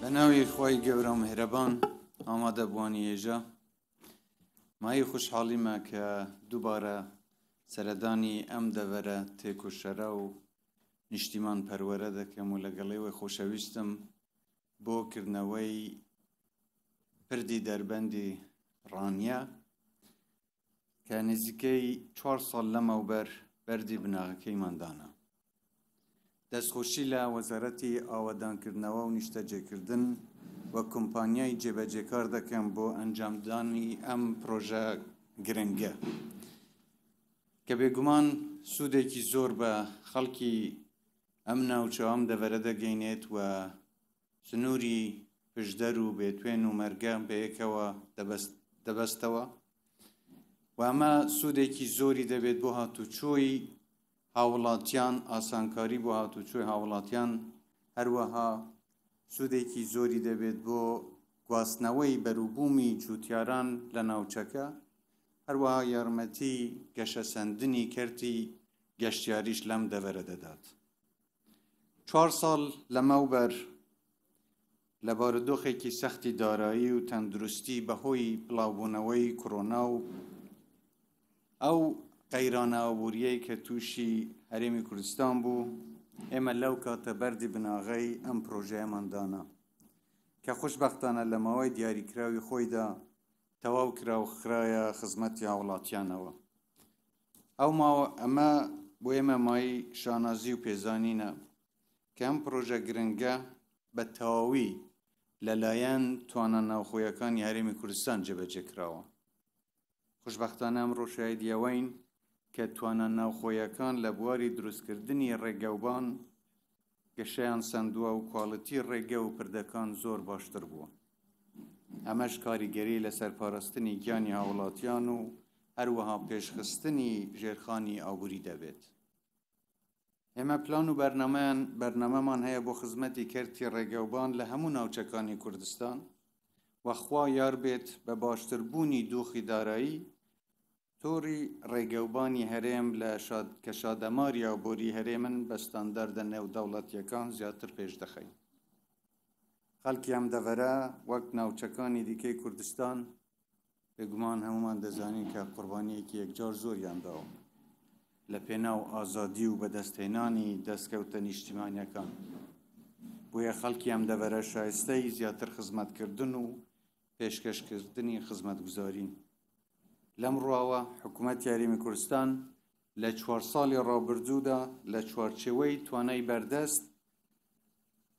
بە ناوی خی گەورە مهرەبان ئامادە بوانی هێژە مای خوشحاڵیمە کە دووبارە سەردانی ئەم دەبەرە تێکۆشەرە و نیشتیمان پەروەرە دەکەم و لەگەڵێوەی خۆشەویستم بۆ کردنەوەی پردی دەربەندی ڕانیە کە نزیکەی چوار ساڵ لەمەوبەر بەردی بناغەکەیمان دانا دەستخۆشی لە وەزارەتی ئاوادانکردنەوە و نیشتەجێکردن و کۆمپانیای جێبەجێکار دەکەم بۆ ئەنجامدانی ئەم پرۆژە گرنگە کە بێگومان سوودێکی زۆر بە خەڵکی ئەم ناوچە ئەم دەڤەرە دەگەینێت و سنووری پشدەر و بێتوێن و مەرگە بەیەکەوە دەبەستەوە و ئەمە سوودێکی زۆری دەبێت بۆ هاتوچۆی هاوڵاتیان ئاسانکاری بۆ هاتوچۆی هاوڵاتیان هەروەها سوودێکی زۆری دەبێت بۆ گواستنەوەی بەروبوومی جووتیاران لە ناوچەکە هەروەها یارمەتی گەشەسەندنی کەرتی گەشتیاریش لەم دەڤەرە دەدات چوار ساڵ لەمەوبەر لە بارودۆخێکی سەختی دارایی و تەندروستی بەهۆی بڵاوبوونەوەی کۆرۆنا و ئەو قەیرانە ئابووریەی کە تووشی هەرێمی کوردستان بوو ئێمە لەو کاتە بەری بناغەی ئەم پرۆژەیەمان دانا کە خوشببختانە لە ماوەی دیاریکراوی خۆیدا تەواو کرا و خراە خزمەتی هاوڵاتیانەوە ئەو ماوە ئەمە بۆ ئێمە مای شانازی و پێزانینە کە ئەم پرۆژە گرنگە بە تەواوی لەلایەن توانا ناوخۆیەکانی هەرێمی کوردستان جێبەجێ کراوە خوشببختانە ئەمڕۆ شایدیەوەین کە توانا ناوخۆیەکان لە بواری دروستکردنی ڕێگەوبان گەشەیان سەندووە و کواڵیتی ڕێگە و پردەکان زۆر باشتر بووە ئەمەش کاریگەری لەسەر پاراستنی گیانی هاوڵاتیان و هەروەها پێشخستنی ژێرخانی ئابووری دەبێت ئێمە پلان و بەرنمەیان بەرنمەمان هەیە بۆ خزمەتی کەرتی ڕێگەوبان لە هەموو ناوچەکانی کوردستان وەخوا یار بێت بە باشتربوونی دۆخی دارایی تۆڕی ڕێگەوبانی هەرێم لە شاد کە شادەماریا و بۆری هەرێمن بە ستانداردە نێودەوڵەتیەکان زیاتر پێش دەخەین خەڵکی ئەم دەڤەرە وەک ناوچەکانی دیکەی کوردستان بێگومان هەمومان دەزانین کە قوربانیەکی یەکجار زۆریان داوە لە پێناو ئازادی و بەدەستهێنانی دەستکەوتە نیشتیمانیەکان بۆیە خەڵکی ئەم دەڤەرە شایستەی زیاتر خزمەتکردن و پێشکەشکردنی خزمەتگوزارین لەم ڕواوە حکوومەت یاریمی کوردستان لە چوار ساڵی ڕابردوودا لە چوارچێوەی توانای بەردەست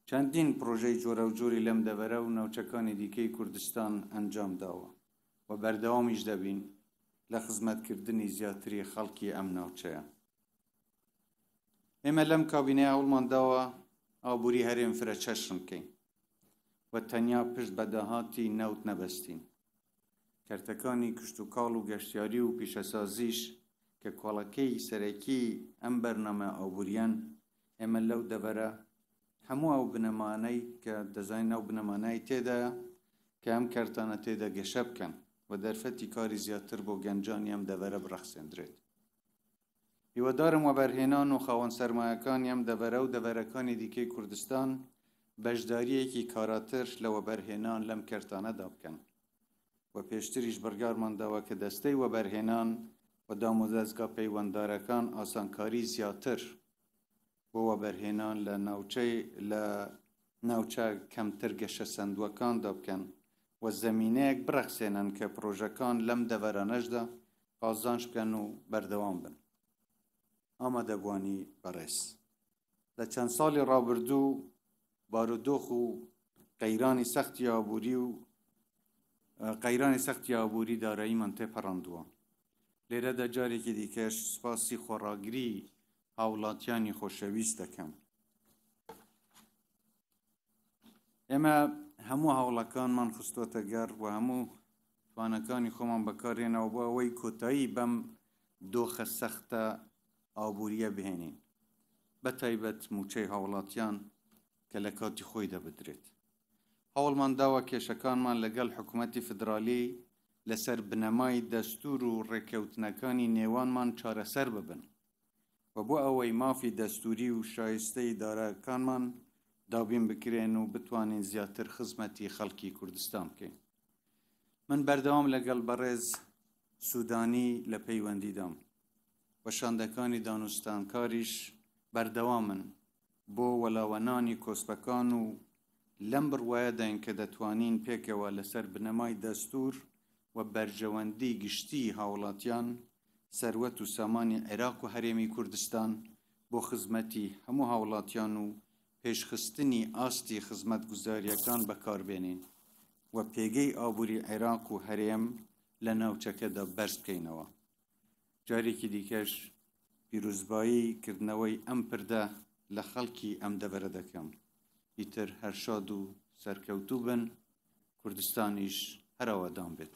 چەندین پرۆژەی جۆرە و جۆری لەم دەبەرە و ناوچەکانی دیکەی کوردستان ئەنجام داوە و بەردەوامیش دەبین لە خزمەتکردنی زیاتری خەڵکی ئەم ناوچەیە ئێمە لەم کابینەیە هەوڵمان داوە ئابووری هەرێم فرە چەشن بکەین و تەنیا پشت بە داهاتی نەوت نەبەستین کەرتەکانی کشتوکاڵ و گەشتیاری و پیشەسازیش کە کۆڵەکەی سەرەکی ئەم بەرنامە ئابووریان ئێمە لەو دەڤەرە هەموو ئەو بنەمانەی کە دەزانین ئەو بنەمانای تێدا کە ئەم کەرتانە تێدا گەشە بکەن و دەرفەتی کاری زیاتر بۆ گەنجانی ئەم دەڤەرە بڕەخسێندرێت هیوادارم وەبەرهێنان و خاوەن سەرمایەکانی ئەم دەڤەرە و دەڤەرەکانی دیکەی کوردستان بەشدارییەکی کاراتر لە وەبەرهێنان لەم کەرتانەدا بکەن و پێشتریش بڕیارمان داوە کە دەستەی وەبەرهێنان و دامودەزگا پەیوەنددارەکان ئاسانکاری زیاتر بۆ وەبەرهێنان لە ناوچەی لە ناوچە کەمتر گەشە سەندووەکاندا بکەن و زەمینەیەک بڕەخسێنن کە پرۆژەکان لەم دەڤەرانەشدا قازانج بکەن و بەردەوام بن ئامادەبوانی بەڕێز لە چەند ساڵی ڕابردوو بارودۆخ و قەیرانی سەختی ئابووری و قەیرانی سەختی ئابووری داراییمان تێپەڕاندووە لێرەدا جارێکی دیکەش سوپاسی خۆڕاگری هاوڵاتیانی خۆشەویست دەکەم ئێمە هەموو هەوڵەکانمان خستۆتە گەڕ و هەموو توانەکانی خۆمان بەکارێنەوە بۆ ئەوەی کۆتایی بەم دۆخە سەختە ئابوووریە بهێنین بە تایبەت موچەی هاوڵاتیان کە لە کاتی خۆی دەبدرێت هەوڵمان داوە کێشەکانمان لەگەڵ حکوومەتتی فدرالی لەسەر بنەمای دەستور و ڕێککەوتنەکانی نێوانمان چارەسەر ببن و بۆ ئەوەی مافی دەستووری و شایستەی دارایەکانمان دابین بکرێن و بتوانین زیاتر خزمەتی خەڵکی کوردستان بکەین من بەردەوام لەگەڵ بەڕێز سوودانی لە پەیوەندیدام و شاندەکانی دانوستانکاریش بەردەوامن بۆ وەلاوەنانی کۆسپەکان و لەم بڕوایەداین کە دەتوانین پێکەوە لەسەر بنەمای دەستوور و بەرژەوەندیی گشتیی هاوڵاتیان، سەروەت و سامانی عێراق و هەرێمی کوردستان بۆ خزمەتی هەموو هاوڵاتیان و پێشخستنی ئاستی خزمەتگوزارییەکان بەکاربێنین و پێگەی ئابووری عێراق و هەرێم لە ناوچەکەدا بەرزبکەینەوە. جارێکی دیکەش پیرۆزبایی کردنەوەی ئەم پردە لە خەڵکی ئەم دەڤەرە دەکەم ئیتر هەر شاد و سەرکەوتوو بن کوردستانیش هەرەوەدان بێت.